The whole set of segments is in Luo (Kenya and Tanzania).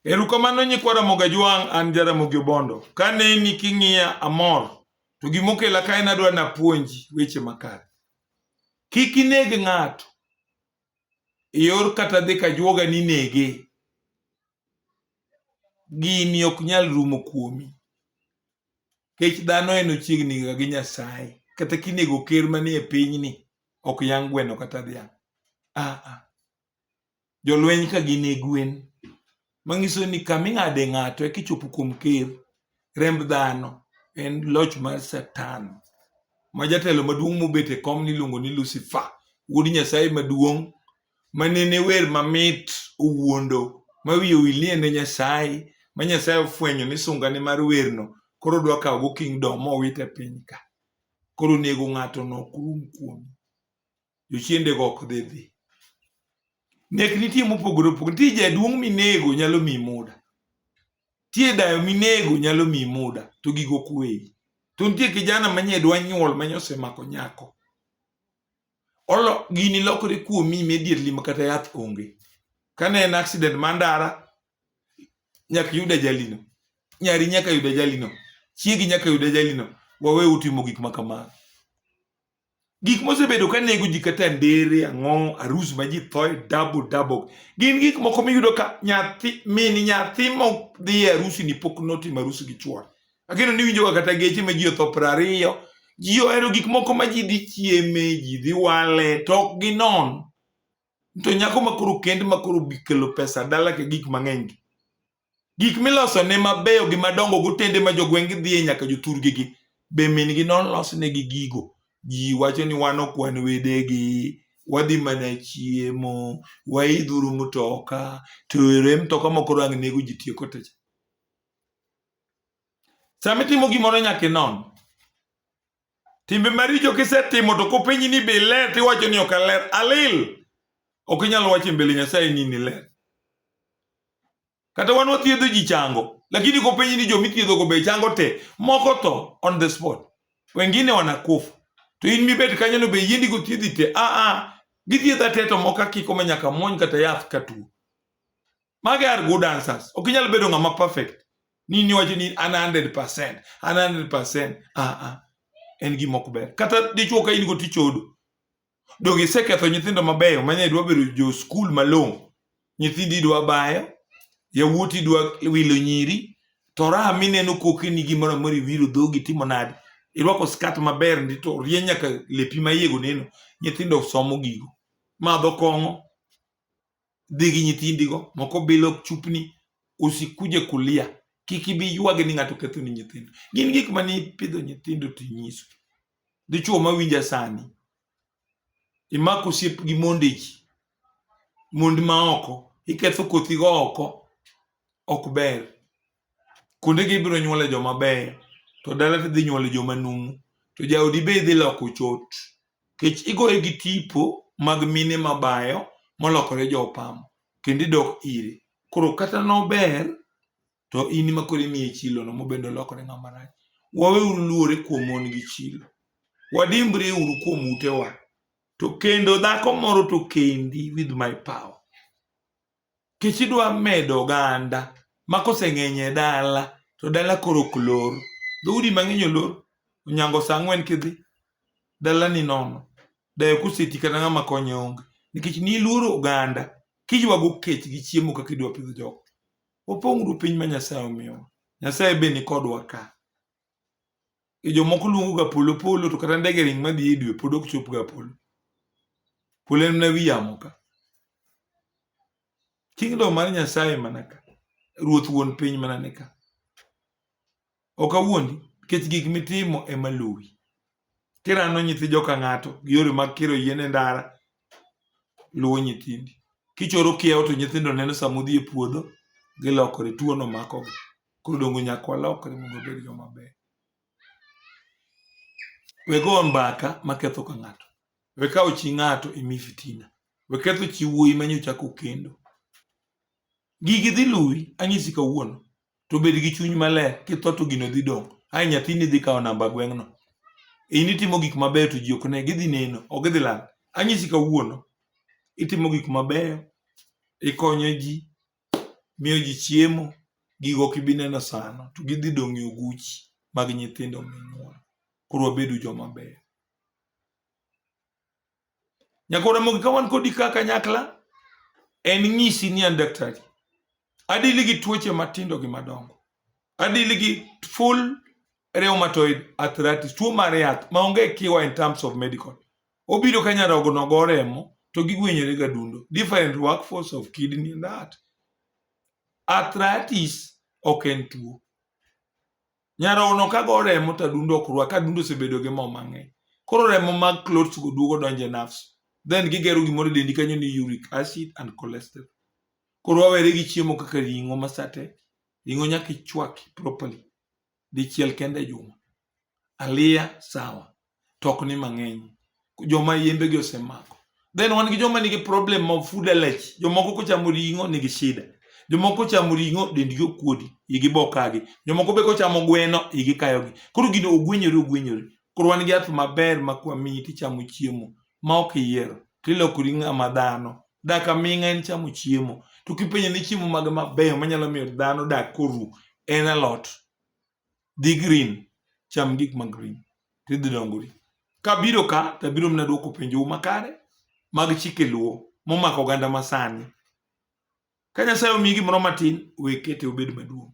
Erukamano nyikwa Ramogi Ajwang', an Jaramogi Obondo. Ka neni king'iya amor, to gimokela ka en adwa napuonji weche makare. Kik ineg ng'ato eyor kata dhi ka juoga ni nege. Gini ok nyal rumo kuomi. Kech dhano en ochiegni ga gi Nyasaye. Kata kinego ker manie pinyni, ok yang' gweno kata dhiang'. Ah ah. jolweny ka gin e gwen manyiso ni kama ing'ade ng'ato eka ichopo kuom ker remb dhano en loch mar satan ma jatelo maduong' mobet e kom niluongo ni lucifer wuod nyasaye maduong' ma nene wer mamit owuondo ma wiye owil ni en e nyasaye ma nyasaye ofwenyo ni sungane mar werno koro odwa kawogo kingdom mowit e piny ka koro nego ng'ato no ok rum kuome jochiendego ok dhi dhi. Nek nitie mopogore opogore. Nitie jaduong' minego nyalo miyi muda. Nitie dayo minego nyalo miyi muda to gigo ok weyi. To nitie kijana manye dwa nyuol manye osemako nyako. Olo gini lokore kuomi immediately ma kata yath onge. Kane en accident mar ndara nyaka iyud ajalino. Nyari nyaka yud ajalino. Chiegi nyaka yud ajalino. Wawe utimo gik ma kamago. gik mosebedo ka nego ji kata ndere ang'o arus ma ji thoe double double gin gik moko miyudo ka nyathi mini nyathi modhi e arusi ni pok notimo arusi gi chuore ageno ni winjoga kata geche ma ji otho piero ariyo ji ohero gik moko ma ji dhi chieme ji dhi wale to ok ginon to nyako ma koro kend ma koro bikelo pesa dala ke gik mang'eny gi Gik miloso ne mabeyo gi madongo gotende ma jogweng' gidhiye nyaka jothurgi gi be min gi nolos ne gi gigo. Ji wacho ni wan ok wan wede gi, wadhi mana chiemo, waidhuru mtoka, to ere mtoka moko rang nego ji tieko techa. Sama itimo gimoro nyaka inon. Timbe maricho kisetimo to kopenji ni be iler tiwacho ni ok aler. Alil. Ok inyal wacho e mbele Nyasaye ni niler. Kata wan wathiedho ji chango, lakini kopenji ni jomi thiedhogo be chango te, moko tho on the spot. Wengine wanakufa. To in mibet kanyo no be yiendi go thiedhi te. Ah ah. Githiedha te to moko akiko ma nyaka muony kata yath katuo. Mage are good answers. Ok inyal bedo ng'ama perfect. ni niwacho ni an 100% an 100% a ah, a ah. en gima ok ber kata dichuo ka in go tichodo donge iseketho nyithindo mabeyo manya idwa bedo jo skul malong'o nyithindi idwa bayo yawuoti idwa wilo nyiri to raha mineno koke ni gimoro amora iwiro dhogi timo nade irwako skat maber ndi to rie nyaka lepi ma iego neno nyithindo somo gigo madho kong'o dhi gi nyithindigo moko bilo chupni osikuje kulia kik ibi ywagi ni ng'ato ketho ni nyithindo gin gik ma ni pidho nyithindo to inyiso dichuo ma winja sani imako osiep gi monde ji mond ma oko iketho kothigo oko ok ber kuondegi ibiro nyuole joma beyo to dala to idhi nyuole joma numu to jaodi be idhi loko chot kech igoye gi tipo mag mine mabayo molokore jopamo kendo idok ire koro kata nober to in ma koro imiye chilono mobende olokore ng'ama rach waweuru luore kuom mon gi chilo wadimbri uru kuom utewa to kendo dhako moro to kendi with my power Kech idwa medo oganda ma koseng'eny e dala to dala koro ok lor. Dhoudi mang'eny olor, Onyango sa ang'wen kidhi, dala ni nono. Dayo koseti kata ng'ama konye onge. Nikech niluoro oganda, kiywago kech gi chiemo kaka idwa pidho jogo. Wapong'uru piny ma Nyasaye omiyowa. Nyasaye be nikodwa ka. e jomoko luongo ga polo polo to kata ndege ring madhi e dwe pod ok chop ga polo polo en na wiyamo ka kingdom mar nyasaye mana ka ruoth wuon piny mana ne ka ok awuondi nikech gik mitimo ema luwi kirano nyithi joka ng'ato gi yore mag kiro yien e ndara luwo nyithindi kichoro kiewo to nyithindo neno sama udhi e puodho gilokore tuono makogi Koro dongo nyaka walokre mondo wabed joma beyo. We go mbaka maketho ka ng'ato. We kawo chi ng'ato imi fitina. We ketho chi wuoyi ma nyocha chako kendo. Gigi dhi luwi anyisi kawuono to bed gi chuny maler kitho to gino dhi dong'. Ai nyathini dhi kawo namba gweng'no. In itimo gik mabeyo to ji ok ne gidhi neno ok gidhi lal. Anyisi kawuono itimo gik mabeyo ikonyo ji miyo ji chiemo, gigo ok ibi neno sano, to gidhi dong' e oguchi mag nyithindo minyuolo. Koro wabedu joma beyo. Nyakwa Ramogi, ka wan kodi ka kanyakla, en nyisi ni an daktari. Adili gi tuoche matindo gi madongo. Adili gi full rheumatoid arthritis, tuo mar yath maonge kiwa in terms of medical. Obiro ka nyarogno go remo to gigwenyore ga dundo. Different workforce of kidney and heart. Arthritis ok en tuo. Nyarogno ka go remo to adundo ok rwa ka adundo osebedo gi mo mang'eny. Koro remo mag clots go duogo donje nerves. Then gigero gimoro e dendi kanyo ni uric acid and cholesterol. Koro wawere gi chiemo kaka ring'o masate. Ring'o nyaka ichwaki properly. dichiel kende e juma. Aliya sawa, to ok ni mang'eny. Joma yembegi osemako. Then wan gi joma nigi problem of food allergy. Jomoko kochamo ring'o nigi shida. Jomoko kochamo ring'o dendgi okuodi, igi bokagi. Jomoko be kochamo gweno, igi kayogi. Koro gino ogwenyore ogwenyore. Koro wan gi yath maber ma kwamiyi tichamo chiemo ma ok iyiero to ilokori ng'ama dhano. Dak aming'a en chamo chiemo. To kipenjo ni chiemo mage mabeyo manyalo miyo dhano dak koru en alot. Dhi green, cham gik ma green to idhi dongori. Kabiro ka to abiro mana dwoko penjou makare mag chike luo momako oganda masani. Ka Nyasaye omiyi gimoro matin, we kete obed maduong'.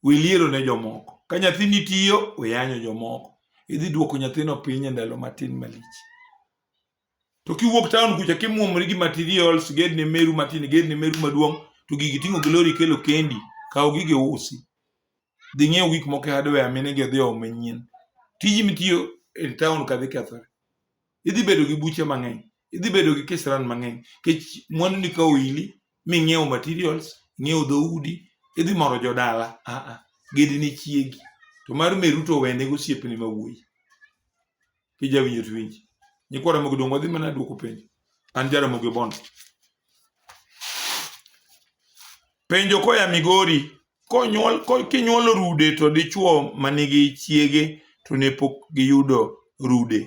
We liero ne jomoko. Ka nyathini tiyo, we yanyo jomoko. Idhi duoko nyathino piny e ndalo matin malich. To kiwuok taon kucha kimuomori gi materials, gedni meru matin, gedni meru maduong', to gigi ting'o glory kelo kendi, kaw gige usi. Dhi ng'iew gik moko e hardware mine gi odhi omo manyien. Tiji mitiyo e taon ka dhi kethore. idhi bedo gi buche mang'eny idhi bedo gi kisran mang'eny kech mwandu ni ka oili ming'iewo materials ing'iewo dhoudi idhi moro jodala aa ah, ah, gedi ni chiegi to mar meru to wende gosiepni ma wuoyi kijawinjo to winji nyikwara mogo dongo dhi mana duoko penjo an jara mogo bond Penjo koya Migori, konyuol kinyuolo rude to dichuo manigi chiege to ne pok giyudo rude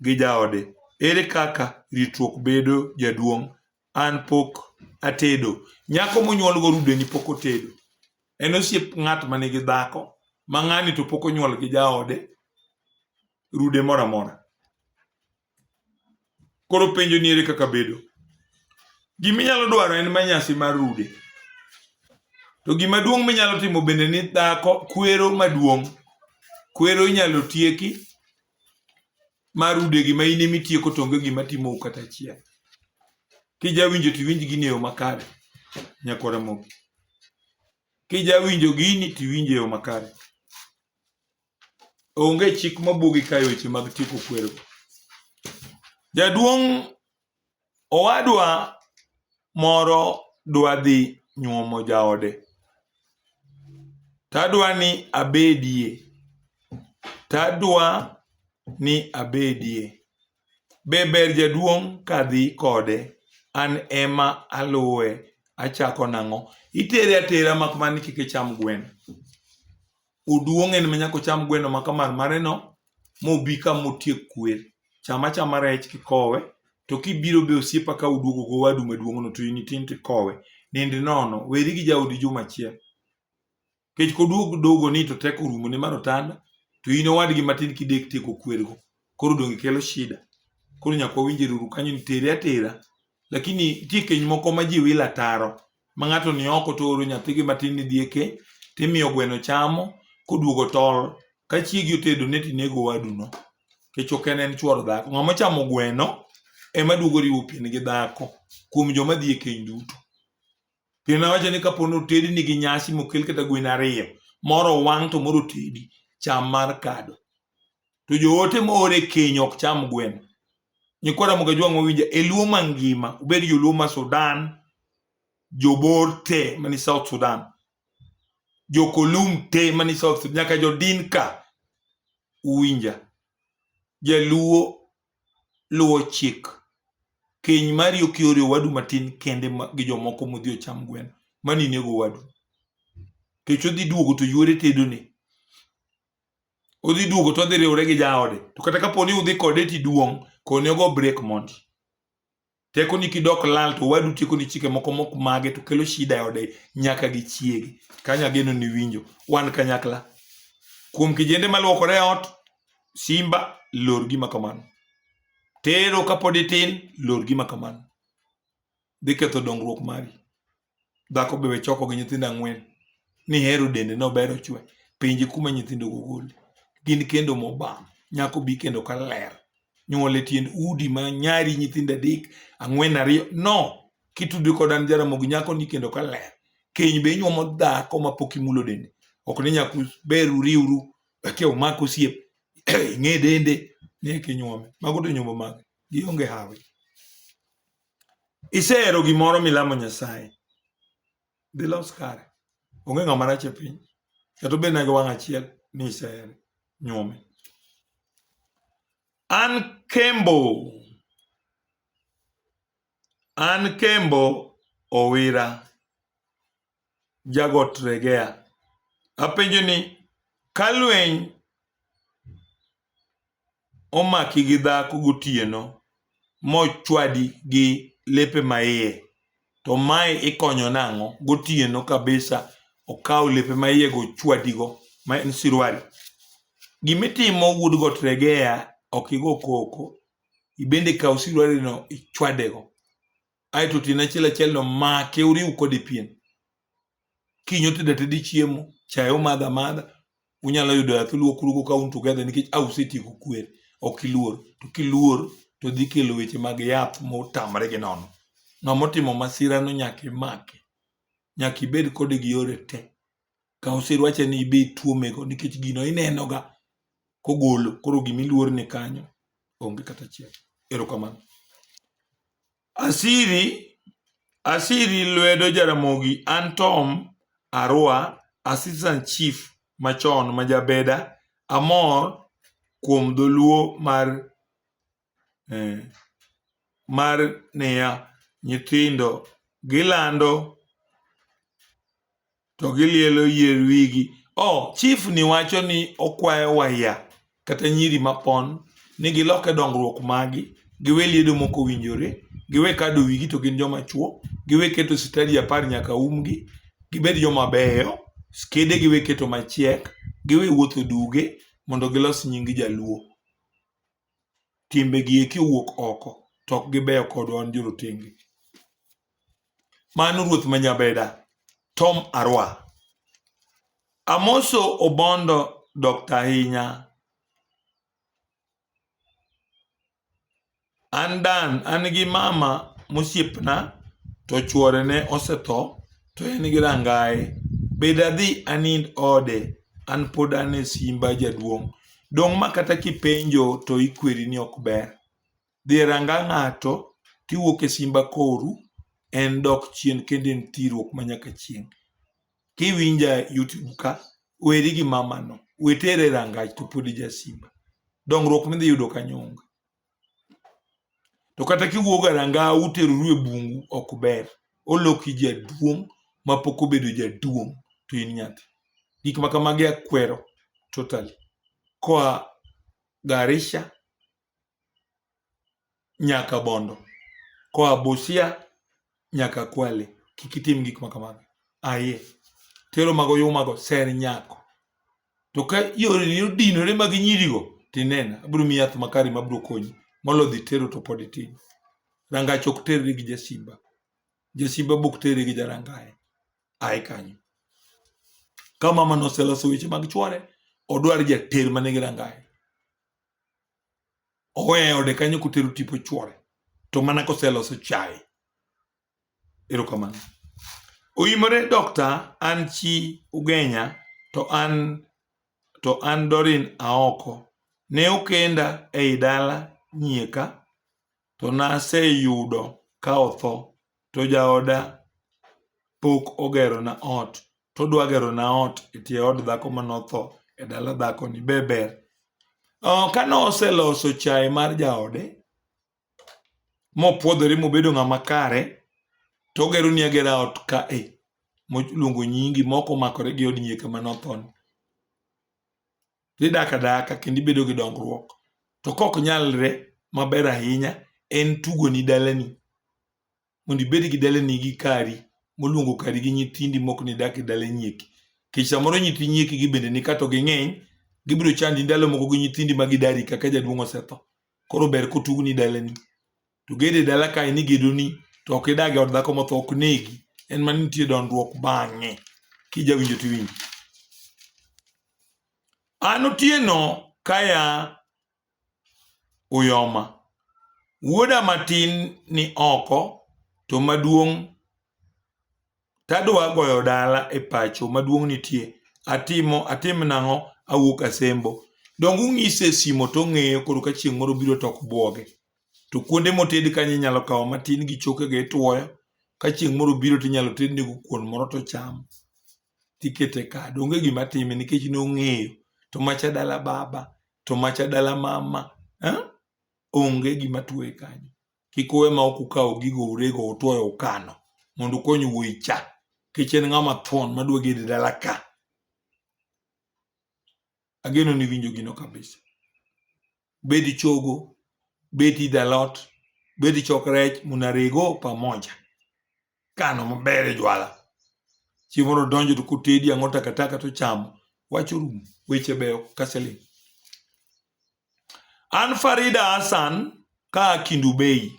gi jaode, ere kaka ritruok bedo jaduong'? An pok atedo. Nyako monyuolgo rudeni pok otedo. En osiep ng'at ma nigi dhako ma ng'ani to pok onyuol gi jaode rude moro amora. Koro penjo ni ere kaka bedo? Gima inyalo dwaro en ma nyasi mar rude. To gima duong' minyalo timo bende ni dhako kwero maduong'. Kwero inyalo tieki ma rude gima in ema itieko to onge gima timou kata achiel. Kijawinjo to iwinj gini e yo makare nyako Ramogi. Kijawinjo gini to iwinjo e yo makare. Onge chik mabugi kae weche mag tieko kwergo. Jaduong' owadwa moro dwa dhi nyuomo jaode. Tadwa ni abedie. Tadwa ni abedie. Be ber jaduong' kadhi kode? An ema aluwe. Achako nang'o? Itere atera mak mana ni kik icham gweno. Oduong' en ma nyaka ocham gweno ma kamar mareno mobi ka motiek kwer. Cham achama rech kikowe, to kibiro be osiepa ka uduogo go wadu maduong'no to in itin tikowe. Nind nono, weri gi jaodi juma achiel. Kech koduog dogo ni to teko orumo ni mar otanda, to in owadgi matin kidek tieko kwergo. koro donge kelo shida koro nyaka wawinje ruru kanyo nitere atera lakini nitie keny moko ma ji wila taro ma ng'ato ni oko to oro nyathigi matin ni dhie keny timiyo gweno chamo koduogo tol ka chiegi otedo ne tinego waduno kech ok en en chuor dhako ng'ama chamo gweno ema duogo riwo pien gi dhako kuom joma dhie keny duto Pien wacho ni kapo ni otedi nigi nyasi mokel kata gwen ariyo, moro wang' to moro tedi, cham mar kado. To joote moor e keny ok cham gweno. Nyikwa Ramogi Ajwang' mawinja e Luo mangima, obed joluo ma Sudan, jobor te mani South Sudan, jokolum te mani South Sudan, nyaka jodinka uwinja. Jaluo luwo chik keny mari ok iore owadu matin kende gi jomoko modhi ocham gweno mani inego owadu kech odhi duogo to yuore tedone odhi duogo to odhi riwore gi jaode to kata kapo ni udhi kode tiduong' kone ogo brek mondi Tekoni kidok lal to wadu tekoni chike moko mok mage to kelo shida e ode nyaka gi chiege. Kanya geno ni winjo wan kanyakla. Kuom kijende maluokore e ot, simba lor gima kamano. Tero kapod itin, lor gima kamano. Dhi ketho dongruok mari. Dhako be we choko gi nyithindo ang'wen. Nihero dende no ber ochwe. Penje kuma nyithindo go gole. Gin kendo mobam. Nyako bi kendo ka ler. Nyuole tiend udi ma nyari nyithindo adek, ang'wen ariyo. No! Kitudri kod an jaramogi nyako ni kendo ka ler. Keny be inyuomo dhako ma pok imulo dende. Ok ni nyaku ber uriuru. Eke umak osiep. Ing'e dende. Ni eke inyuome. Mago to nyombo mage. Gionge hawi. isehero gimoro milamo nyasaye dhi los kare onge ng'ama rach e piny kata obed na gi wang' achiel ni isehere nyuome an kembo an kembo owira jagot Regea. Apenjo ni ka lweny omaki gi dhako gotieno mochwadi gi lepe maiye to mae ikonyo nang'o gotieno kabisa okawo lepe maiye go chwadigo ma en sirwali. Gimitimo wuod got Regea ok igo koko ibende kaw sirwalino ichwadego. ae to otieno achiel achiel no make uriw kode pien kinyo tedo atedi chiemo chae umadha madha unyalo yudo yath ulwokurugo ka un together nikech a usetieko kwer ok iluor to kiluor to dhi kelo weche mag yath motamre gi nono ng'ama otimo masira no nyaka imake nyaka ibed kode gi yore te ka oserwache ni ibe ituomego nikech gino inenoga kogolo koro gima iluor ni kanyo onge kata achiel erokamano asiri asiri lwedo jaramogi an tom arwa assistant chief machon ma jabeda amor kuom dholuo mar eh, mar niya nyithindo gilando to gilielo yier wigi oh chief ni wacho ni okwayo waya kata nyiri mapon ni giloke dongruok magi giwe liedo moko winjore giwe kado wigi to gin joma chuo giwe keto sitadi apar nyaka umgi gibed joma beyo skede giwe keto machiek giwe wuotho duge mondo gilos nying jaluo timbegi eki owuok oko to ok gibeyo kodwa wan jorotenge. Mano ruoth ma Nyabeda, Tom Arwa. Amoso Obondo Dr. Ahinya. An Dan, an gi mama mosiepna to chuore ne osetho. to en gi rangaye bed adhi anind ode an pod an e simba jaduong' dong' ma kata kipenjo to ikweri ni ok ber dhi e ranga ng'ato tiwuok e simba koru en dok chien kendo en thiruok ma nyaka chieng' kiwinja youtube ka weri gi mamano wetere rangach to pod ija simba dongruok midhi yudo kanyo onge to kata kiwuok garanga uteroru e bungu ok ber oloki jaduong' mapok obedo jaduong' to in nyathi gik ma kamagi akwero totally koa Garisha nyaka Bondo koa Busia nyaka kwale kik itim gik ma kamago aye tero mago yumago ser nyako to ka yoreni odinore mag nyirigo tinena abiro miyi yath makari mabiro konyi molo dhi tero to pod itin rangach ok terri gi jasimba jasimba bok terri gi jarangaye aye kanyo ka mama noseloso weche mag chwore odwar jater manigi rangaye oweyo ode kanyo kotero tipo chwore to mana koseloso chae erokamano oyimore dokta an chi ugenya to an to an dorin aoko ne okenda ei dala nyieka to naseyudo ka otho to jaoda pok ogerona ot to odwa gerona ot e tie od dhako mane otho e dala dhakoni be ber? Kane oseloso chae mar jaode mopwodhore mobedo ng'ama kare to ogeroni agera ot ka e moluongo nyingi maok omakore gi od nyieka mane othoni. to idak adaka kendo ibedo gi dongruok to kok nyalre maber ahinya en tugo ni dalani mondo ibed gi dalani gi kari moluongo kari gi nyithindi mok ni dak e dala nyieki kech samoro nyithi nyieki gi bende ni kato ging'eny gibiro chandi ndalo moko gi nyithindi ma gidari kaka jaduong' osetho koro ber kotug ni dalani to gede dala kae ni gedoni to ok idag e od dhako motho ok negi en mana nitie dondruok bang'e kijawinjo tiwinjo an otieno kaya uyoma wuoda matin ni oko to maduong' Tadwa goyo dala e pacho maduong' nitie. Atimo atim nang'o awuok asembo. Donge ung'ise e simo to ong'eyo koro ka chieng' moro biro to ok bwoge. To kuonde moted kanyo inyalo kawo matin gi chokego itwoyo. Ka chieng' moro biro to inyalo tednego kuon moro to ochamo. Tikete kado. Onge gima time nikech ne ong'eyo. To macha dala baba. To macha dala mama. Eh? Onge gima tueye kanyo. kik uwe ma ok ukawo gigo urego utoyo ukano mondo ukony wuoyi cha kech en ng'ama thon madwa gede dala ka ageno ni winjo gino kabisa bed chogo bed idalot bed chok rech munarego pamoja kano maber e jwala chiemo no donjo to kotedi ang'o takataka to chamo wacho rum weche beyo kaseling an farida hassan ka kindu bei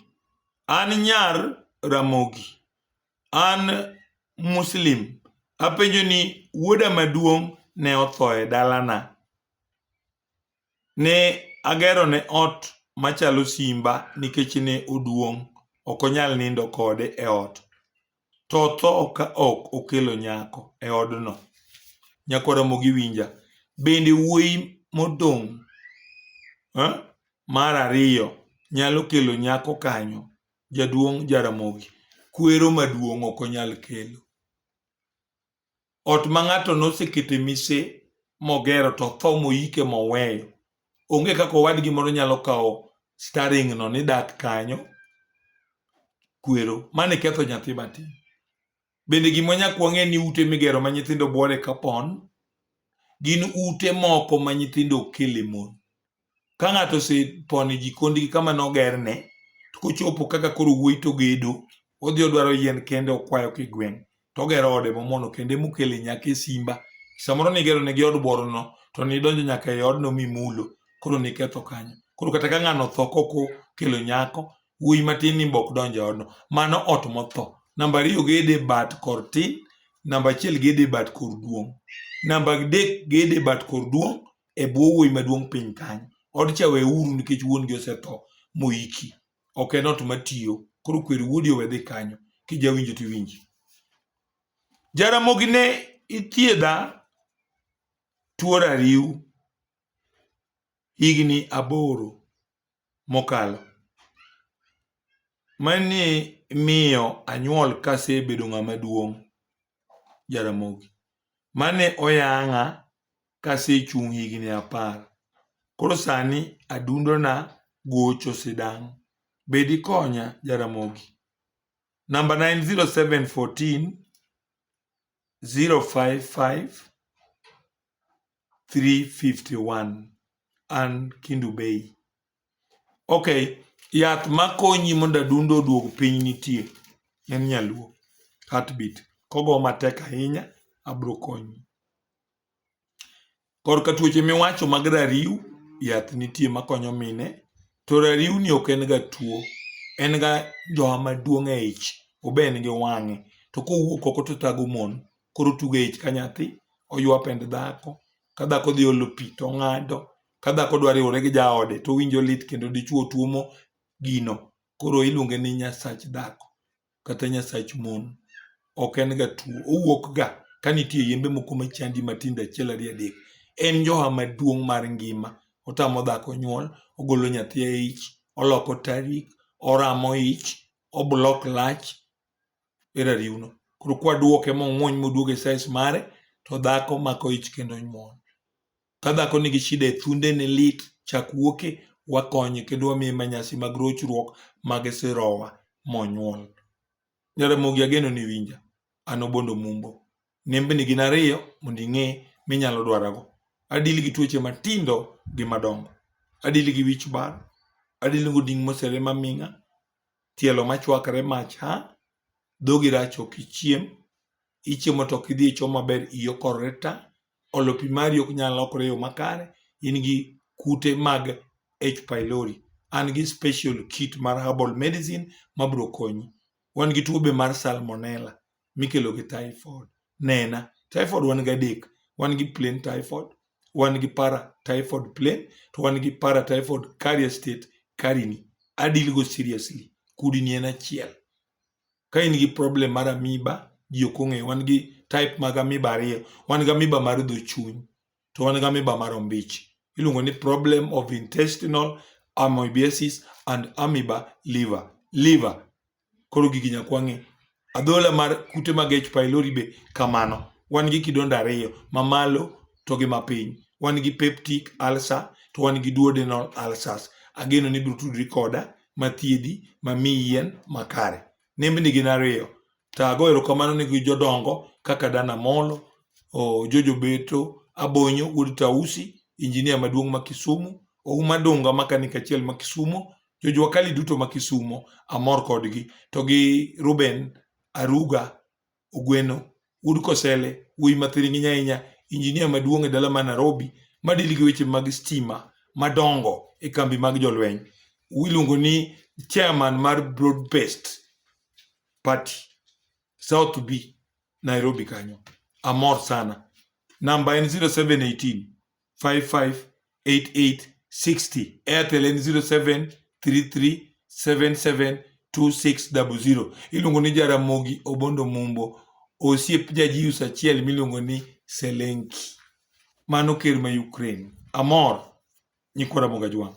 an nyar ramogi an muslim apenjo ni wuoda maduong' ne otho e dalana ne agerone ot machalo simba nikech ne oduong' ok onyal nindo kode e ot. To otho ka ok okelo nyako e odno. Nyako Ramogi winja. Bende wuoyi modong' eh, mar ariyo nyalo kelo nyako kanyo? Jaduong' Jaramogi. Kwero maduong' ok onyal kelo. ot ma ng'ato nosekete mise mogero to tho moyike moweyo onge kaka owadgi moro nyalo kawo staring no ni dak kanyo kwero mane ketho nyathi matin bende gima nyak wang'e ni ute migero ma nyithindo bwore kapon gin ute moko ma nyithindo okele mon ka ng'ato osepono jikondgi kama nogerne to kochopo kaka koro wuoyi to gedo odhi odwaro yien kende okwayo kigweng' to ogero ode momono kende mokele nyaka e simba samoro nigero ne gi od borono to nidonjo nyaka e odno mimulo koro niketho kanyo koro kata ka ng'ano otho koko kelo nyako wuoyi matin ni mbok donjo e odno mano ot motho namba ariyo gede bat kor tin namba achiel gede bat kor duong' namba adek gede bat kor duong' e bwo wuoyi maduong' piny kanyo. Odcha weuru nikech wuon gi osetho moiki. Ok en ot matiyo. Koro kwer wuodi owe dhi kanyo. Kijawinjo to iwinji. Jaramogi ne ithiedha tuo rariw higni aboro. mokalo. Mani miyo anyuol kasebedo ng'ama duong' Jaramogi. Mane oyang'a kasechung' higni apar. Koro sani adundona gocho sidang'. Be dikonya Jaramogi? Namba na en 0714 055 351 an Kindu Bay. Okay, yath makonyi mondo adundo oduog piny nitie en nyaluo heartbeat kogo matek ahinya abro konyi korka tuoche miwacho mag rariw yath nitie makonyo mine to rariw ni ok en ga tuo en ga jowa maduong' e ich obe en gi wang'e to kowuok oko to tago mon koro tugo e ich ka nyathi, oywa pend dhako, ka dhako dhi olo pi to ong'ado, ka dhako dwa riwore gi jaode to owinjo lit kendo dichwo tuomo gino. Koro iluonge ni nyasach dhako kata nyasach mon. Ok en ga tuo, owuok ga ka nitie yembe moko machandi matindo achiel ariyo adek. En njoha maduong' mar ngima, otamo dhako nyuol, ogolo nyathi e ich, oloko tarik, oramo ich, o block lach. e rariwno koro kwa duoke mong'wony moduoge size mare to dhako mako ich kendo nyuol ka dhako nigi shida e thunde ne lit chak wuoke wakonye kendo wamiye manyasi mag rochruok mag sirowa monyuol jaramogi ageno ni winja an obondo mumbo nembni gin ariyo mondo ing'e minyalo dwarago adil gi tuoche matindo gi madongo adil gi wich bar adil gi oding' mosere maming'a tielo machwakre mach ha, dhogi rach ok ichiem, ichiemo to ok idhi e choo maber, iyi okorore ta, olo pi mari ok nyal lokore e yo makare, in gi kute mag H. pylori. An gi special kit mar herbal medicine mabiro konyi. Wan gi tuo be mar salmonella. mikelo gi typhoid. Nena, typhoid wan gi adek, wan gi plain typhoid, wan gi para typhoid plain, to wan gi para typhoid carrier state karini. Adil go seriously. Kudini en achiel. Ka in gi problem mar amiba, ji ok ong'eyo. Wan gi type mag amiba ariyo. Wan gi amiba mar dho chuny. to wan gi amiba mar ombich. Iluongo ni problem of intestinal amoebiasis and amoeba liver. Liver. Koro gigi nyaka wang'e. Adhola mar kute mag H. pylori be kamano. Wan gi kidonda ariyo, mamalo to gi mapiny. Wan gi peptic ulcer to wan gi duodenal ulcers. Ageno ni biro tudri koda mathiedhi mamiyi yien makare. Nembni gin ariyo, To ago erokamano ne jodongo kaka Dan Amolo, oh, Jojo Beto, Abonyo wuod Tausi, injinia maduong' ma Kisumu, Ouma Dunga makanika achiel ma Kisumo, Jojo Wakali duto ma Kisumo, amor kodgi. To gi Ruben Aruga Ogweno, wuod Kosele, wuoyi ma thiring'iny ahinya, injinia maduong' e dala ma Nairobi, madili gi weche mag stima madongo e kambi mag jolweny. Iluongo ni chairman mar Broadbest. party south b nairobi kanyo amor sana namba en 0718 558860 airtel en 0733772600 iluongo ni jaramogi obondo mumbo osiep jajius achiel miluongo ni selenki mano ker ma ukraine amor nyikwa ramoga jwang'